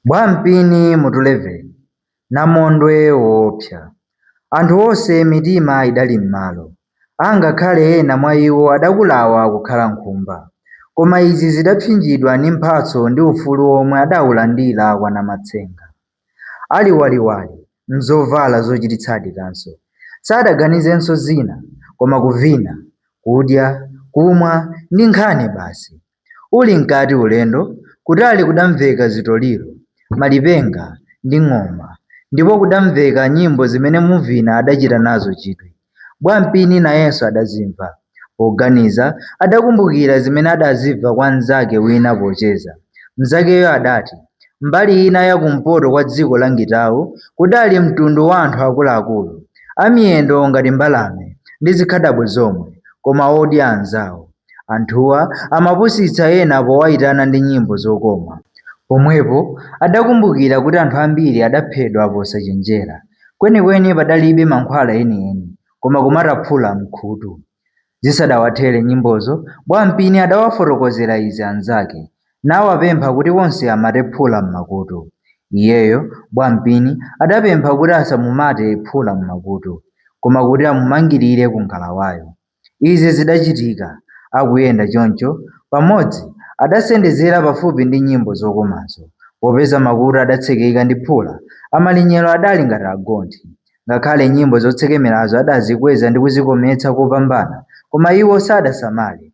Bwampini mutu 11 Namondwe woopsa Anthu onse mitima idali m'malo, angakhale ena mwa iwo adakulawa kukhala nkhumba, koma izi zidapsinjidwa ndi mphatso ndi ufulu womwe adaulandira kwa Namatsenga. Ali waliwali, m'zovala zochititsadi kaso, sadaganizenso zina koma kuvina, kudya, kumwa ndi nkhani basi. Uli mkati ulendo, kutali kudamveka zitoliro, malipenga, ndi ng'oma, ndipo kudamveka nyimbo zimene Muvina adachita nazo chidwi. Bwampini nayenso adazimva. Poganiza, adakumbukira zimene adazimva kwa mnzake wina pocheza. Mnzakeyo adati mbali ina ya kumpoto kwa dziko la Ngitau kudali mtundu wa anthu akuluakulu, amiyendo ngati mbalame ndi zikhadabo zomwe, koma odya anzawo. Anthuwa amapusitsa ena powaitana ndi nyimbo zokoma. Pomwepo adakumbukira kuti anthu ambiri adaphedwa posachenjera. Kwenikweni padalibe mankhwala enieni, koma kumata phula m'khutu. Zisadawathere nyimbozo, Bwampini adawafotokozera izi anzake, nawapempha kuti onse amate phula m'makutu. Iyeyo, Bwampini, adapempha kuti asamumate phula m'makutu, koma kuti amumangirire ku ngalawayo. Izi zidachitika, akuyenda choncho, pamodzi, adasendezera pafupi ndi nyimbo zokomazo, popeza makutu adatsekeka ndi phula, amalinyero adali ngati agonthi. Ngakhale nyimbo zotsekemerazo adazikweza ndi kuzikometsa kopambana, koma iwo sadasamale,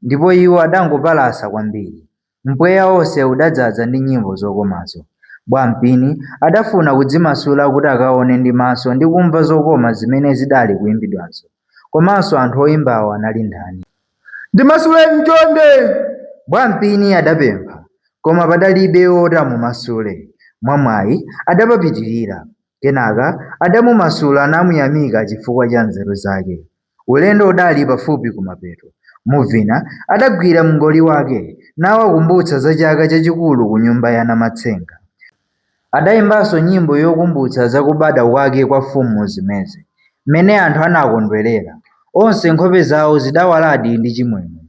ndipo iwo adangopalasa kwambiri. Mpweya wonse udadzadza ndi nyimbo zokomazo. Bwampini adafuna kudzimasula kuti akaone ndi maso ndi kumva zokoma zimene zidali kuyimbidwazo. Komanso anthu oyimbawo anali ndani? Ndimasuleni chonde! Bwampini adapempha. Koma padalibe woti amumasule. Mwamwayi, adapapitirira. Kenaka adamumasula namuyamika chifukwa cha nzeru zake. Ulendo udali pafupi kumapeto. Muvina adagwira mngoli wake nawakumbutsa za chaka chachikulu kunyumba ya Namatsenga. Adaimbanso nyimbo yokumbutsa za kubadwa kwake kwa Mfumu Zimeze, mmene anthu anakondwerera. Onse nkhope zawo zidawaladi ndi chimwemwe.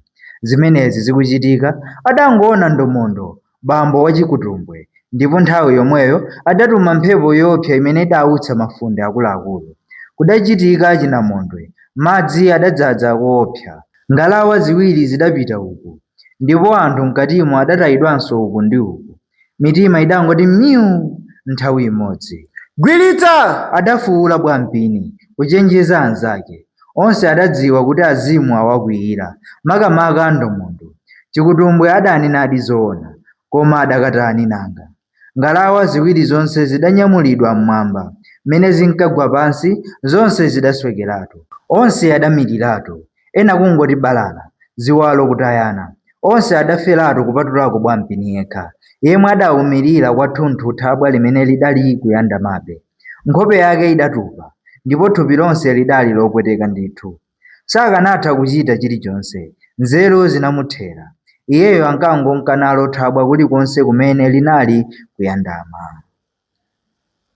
Zimenezi zikuchitika, adangoona ndomondo bambo wachikutumbwe, ndipo nthawi yomweyo adatuma mphepo yoopsa imene idautsa mafunde akuluakulu. Kudachitika chinamondwe, madzi adadzadza koopsa. Ngalawa ziwiri zidapita uku, ndipo anthu m'katimo adatayidwanso uku ndi uku. Mitima idangoti myu! nthawi imodzi. Gwiritsa! adafuula Bwampini kuchenjeza anzake. Onse adadziwa kuti azimu awakwiyira, makamaka Ndomondo. Chikutumbwe adanenadi zoona, koma adakatani nanga? Ngalawa ziwiri zonse zidanyamulidwa m'mwamba, mmene zinkagwa pansi, zonse zidaswekeratu. Onse adamiriratu, ena kungoti balala, ziwalo kutayana. Onse adaferatu kupatulako Bwampini yekha, yemwe adaumirira kwathunthu thabwa limene lidali kuyandamabe. Nkhope yake idatupa ndipo thupi lonse lidali lopweteka ndithu. Sakanatha kuchita chilichonse. Nzeru zinamuthera. Iyeyo ankangonka nalo thabwa kulikonse kumene linali kuyandama.